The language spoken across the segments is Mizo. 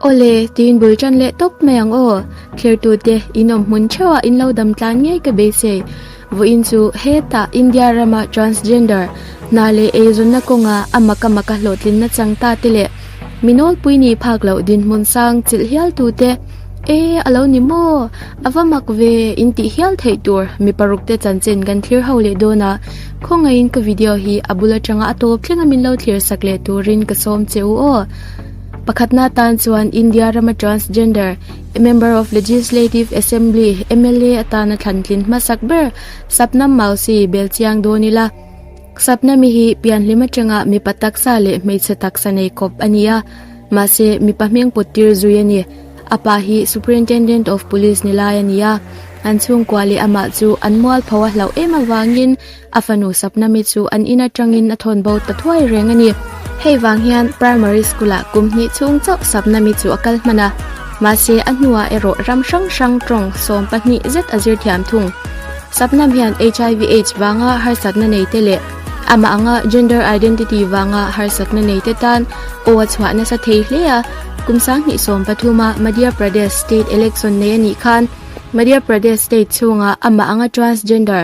Aw le, tiin bul tan leh tawp mai ang aw. Thlertute, in awm hmun theuhah in lo dam tlan ngei ka bei se. Vawiin chu heta India rama transgender hna leh eizawna kawnga a mak a mak a hlawhtlin nachang ta te leh minawlpui nih phak loh dinhmun sang chilh hial tu te e a lo ni maw a va mak ve in tih hial theih tur mi paruk te chanchen kan thlir ho leh dawn a. Khawngaihin ka video hi a bul atanga a tawp thleng a min lo thlir sak leh turin ka sawm che u aw. Pakhatna atan chuan India rama transgender Member of Legislative Assembly, MLA, atan a thlantlin hmasak ber Sapnam Mausi bel chiang dawn ila. Sapnami hi pianhlim atanga mipa taksa leh hmeichhe taksa nei khawp a nia. Mahse, mipa hmingput tir zui a ni. A pa hi Superintendent of Police ni lai a nia. An chhungkua leh amah chu an mualpho a hlauh em avangin, A fanu sapna mi chu an in atangin a thawn bo ta thuai reng a ni. Hei vang hian Primary School-a kum hnih chhung chauh sapna mi chu a kal hman a, mahse a hnuah erawh ram hrang hrang tawng sawm pahnih zet a zir thiam thung. Sapnam hian HIV, aids vanga harsatna neite leh amah anga gender identity vanga harsatna neite tan aw a chhuah nasa thei hle a. Kum sang hnih sawm pathuma Madhya Pradesh state election nei a nih khan Madhya Pradesh state chhunga amah anga transgender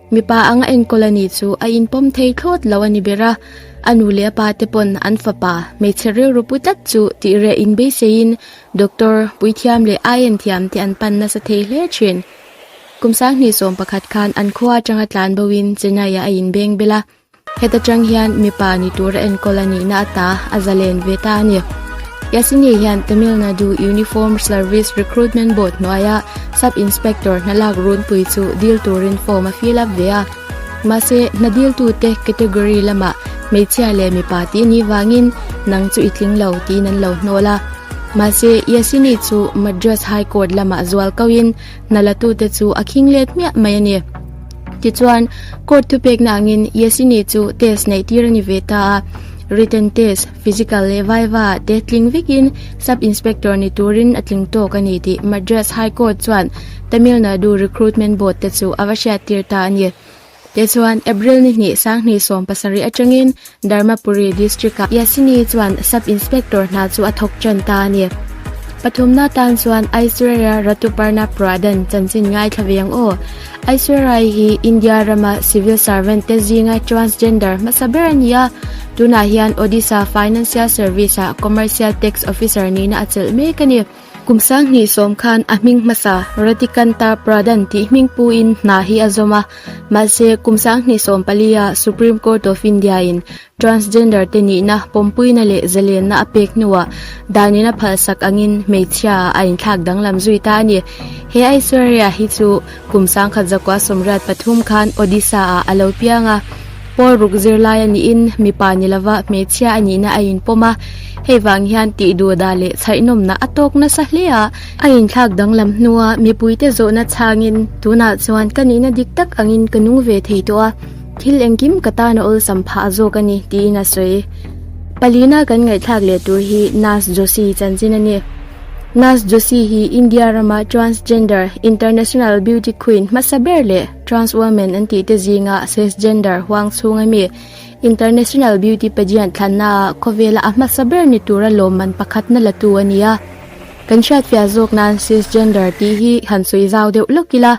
Mipa anga enkawl a nih chu a inpawm thei thlawt lo a ni ber a, a nu leh a pa te pawn an fapa hmeichhe rilrupu tlat chu tih reh in beiseiin doctor, puithiam leh aiin thiam te an pan nasa thei hle thin. Kum sanghnih sawm pakhat khan an khua atanga tlan boin Chennai-ah a inbeng bel a. Heta chang hian mipa ni tur a enkawl a nihna a ta a za len ve ta a ni. Yasini hian Tamil Nadu Uniformed Service Recruitment Board hnuaia Sub Inspector hna lak runpui chu dil turin form a fill up ve a. Mahse, hna diltute category lamah hmeichhia leh mipa tih ni vangin nang chu i tling lo tiin an lo hnawl a. Mahse, Yasini chu Madras High Court lamah zual kauhin, Hna latute chu a khing let hmiah mai a ni. Tichuan, court thupekna angin Yesini chu test neih tir a ni ve ta a, written test, physical leh viva te tling vekin sub inspector ni turin a tling tawk a ni tih Madras High Court chuan Tamil Nadu Recruitment Board te chu a va hriat tir ta a ni. Te chuan April ni hnih Sanghnih sawm pasarih atangin Dharmapuri District-a Yasini chuan Sub Inspector hna chu a thawk ṭan ta a ni. Pathumna atan chuan Aishwarya Ratuparna Pradhan chanchin ngaithla ve ang aw. Aishwarya hi India rama Civil Servant te zinga Transgender hmasa ber a ni a. Tunah hian Odisha Financial Service-a Commercial Tax Officer nihna a chelh mek a ni. Kum sang hnih sawm khan a hming hmasa Ratikantar Pradhan tih hmingpuiin hna hi a zawm a. Mahse, kum sang hnih sawm palia Supreme Court of India in transgender te nihna pawmpuina leh zalenna a pek hnuah danin a phalsak angin hmeichhia a inthlak danglam zui ta a ni. He Aishwarya hi chu. Kum sangkhat zakua sawmriat pathum khan Odisha-ah a lo piang a, Paul ruk zirlai a nihin mipa ni lova hmeichhia a nihna a inpawm a, hei vang hian tih duh dah leh chhainawmna a tawk nasa hle a. A inthlak danglam hnua mipuite zawhna chhangin tunah chuan ka nihna dik tak angin ka nung ve thei tawh a, thil engkim ka tana awlsam phah zawk a ni, tiin a sawi. Palina kan ngaihthlak leh tur hi Nurse Josie chanchin a ni. Naz Joshi hi India rama Transgender, International Beauty Queen, hmasa ber leh Trans Woman an tih te zinga Cisgender huang chhung a mi International Beauty Pageant thlanna ah khawvela a hmasa ber ni tura lawmman pakhatna la tu a ni a. Kan hriatfiah zawk nan Cisgender tih hi han sawi zau deuh lawk ila.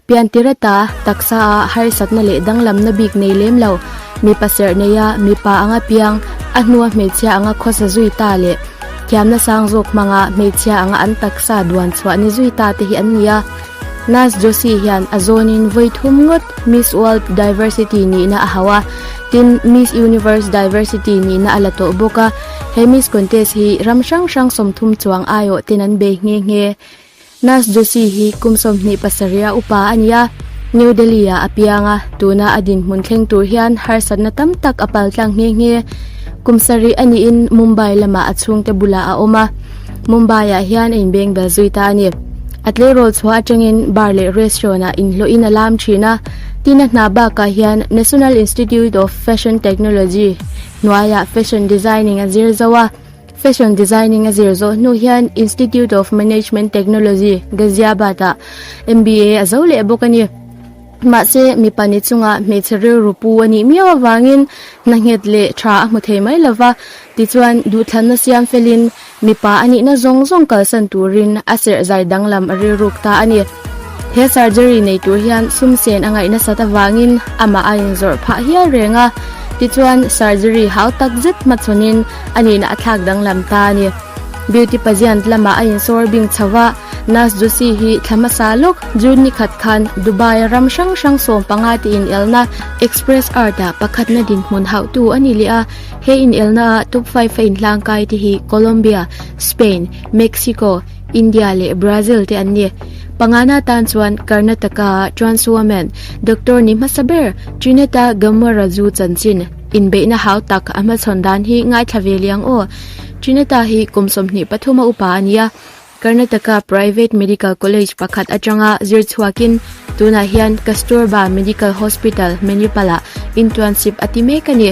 Pian ti reta, taksa a harsat na leh danglam na bik nei lem lo, mipa serh nei a, mipa anga piang, a hnua hmeichhia anga khawsa zui ta leh thiam na sang zawk hmanga hmeichhia anga an taksa duan chhuah ni zui ta te hi an ni a. Naz Joshi hian a zawn in vawi thum ngawt Miss World Diversity nihna a hau a, tin Miss Universe Diversity nihna a la tawh bawk a, he Miss Contest hi ram hrang hrang sawmthum chuang aiawh ten an bei nghe nghe. Nurse Joshi hi kum sawmhnih pasaria upa a ni a, New Delhi-ah a piang a, tuna a dinhmun thleng tur hian harsatna tam tak a pal tlang nghe nghe. Kum sarih a niin Mumbai lama a chhungte bulah a awm a, Mumbai-ah hian a inbengbel zui ta a ni. A tleirawl chhuah atangin bar leh restaurant-ah inhlawhin a lam thin a, tin a hna bakah hian National Institute of Fashion Technology hnuaiah fashion designing a zir zo a. Fashion Designing a zir zawh hnu hian Institute of Management Technology, Ghaziabad ah MBA a zo leh bawk a ni. Mahse, mi pahnih chungah hmeichhe rilru pu a nih miau avangin hnanghet leh tha a hmu thei mai lo va, tichuan duhthlanna siam felin mipa a nihna zawng zawng kalsan turin a serh zai danglam a rilruk ta a ni. He surgery nei tur hian sumsen a ngaih nasat avangin amah a inzawrh phah hial reng a, tichuan surgery hau takzet hmachhawn in, a nihna a thlak danglam ta a ni. Beauty pageant lama a insawr bing chho a, Naz Joshi hi thla hmasa lawk June ni khat khan Dubai-a ram hrang hrang sawm panga te inelna Express Art-a pakhatna dinhmun hauhtu a ni leh a. He inelnaah top five-a inhlangkai te hi Colombia, Spain, Mexico, India leh Brazil te an ni. Pangana tan chuan Karnataka-a Trans Woman, Doctor ni hmasa ber Trineta Gammara Ju chanchin, Inbeihna hau tak a hmachhawn dan hi ngaithla ve liang aw. Trinata hi kum sawmhnih pathuma upa a nia. Karnataka Private Medical College pakhat atanga zir chhuakin tunah hian Kasturba Medical Hospital Hmenripalah internship a ti mek a ni.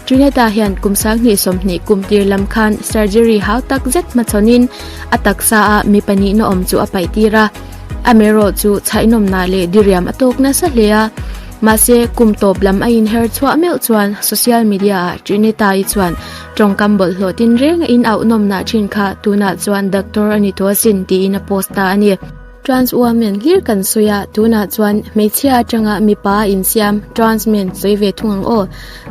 Trinata hian kum sanghnih sawmhnih kum tir lam khan surgery hau tak zet hmachhawnin a taksa a mi pahnihna awm chu a paihtir a. Amerawh chu chhaihnawmna leh diriam a tawk nasa hle a. Mahse, kum tawp lam a inher chhuah meuh chuan social media ah Trinita-i chuan tawngkam bawlh hlawh tin reng a inauhnawmna ṭhin kha tunah chuan Doctor a ni tawh asin tiin a post ta a ni. Trans woman hlir kan sawi a, tunah chuan hmeichhia aṭanga mipa a insiam trans men sawi ve thung ang aw.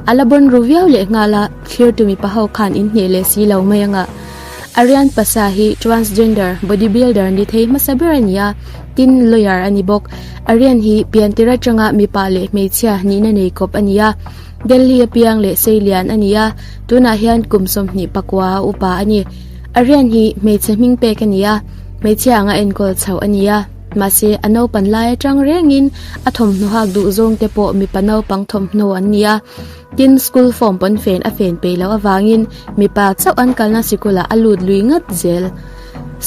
A la bawn ru viau lehnghal a, thlir tu mipa ho khan in hneh leh si lo mai anga Aryan pasa hi transgender body builder ni thei hmasa ber a ni a, tin lawyer a ni bawk. Aryan hi piantir atanga mipa leh hmeichhia nihna nei kawp a ni a. Delhi apiang leh seilian a ni a, tunah hian kum sawmhnih pakua a upa a ni. Aryan hi hmeichhe hming pek a ni a, hmeichhia anga enkawl chhoh a ni a. Mahse, a naupan lai atang rengin a thawmhnaw hak duh zawngte pawh mipa naupang thawmhnaw an ni a. Tin, school form pawnfen a fen peih loh avangin mipa chauh an kalna sikul ah a lut lui ngat zel.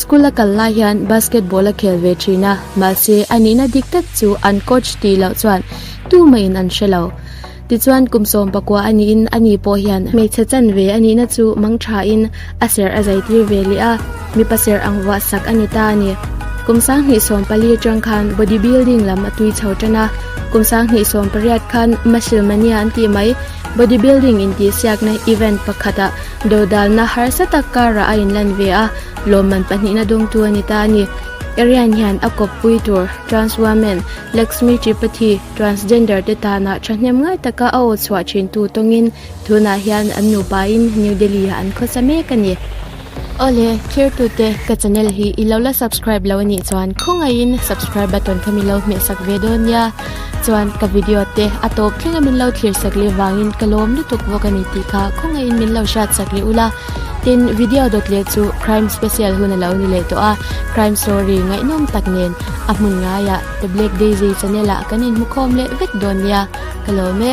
School a kal lai hian basketball a khel ve thin a, mahse a nihna dik tak chu an coach tih loh chuan tu mai in an hre lo. Tichuan, kum sawm pakua a niin ani pawh hian hmeichhe chanve a nihna chu mangtha in, A serh a zai tir ve leh a, mipa serh ang vuah sak a ni ta a ni. Kum sang hnih sawm pali atang khan body building lam a tui chho tan a, kum sang hnih sawm pariat khan muscle mania an tih mai. Body building intihsiakna event pakhatah dodalna harsa tak karah a inlan ve a, lawmman pahnihna dawngtu a ni ta a ni. Erian hian a kawppui tur trans women Laxmi Tripathi transgender te tanah thahnem ngai taka a aw chhuah thintu tawngin Tunah hian an nupain New Delhi-ah an khawsa mek a ni. Aw le, thirtute, ka channel hi i lo la subscribe lo a nih chuan khawngaihin subscribe button kha min lo hmehsak ve dawn nia. Chuan ka video te a tawp thleng a min lo thirsak leh vangin ka lawm lutuk bawk a ni tih kha khawngaihin min lo hriatsak leh ula. Tin, video dawt leh chu crime special hun a lo ni leh tawh a, crime story ngaihnawm tak nen a hmun ngaiah The Black Daisy channel-ah kan inhmukhawm leh vek dawn nia. Ka lawm e.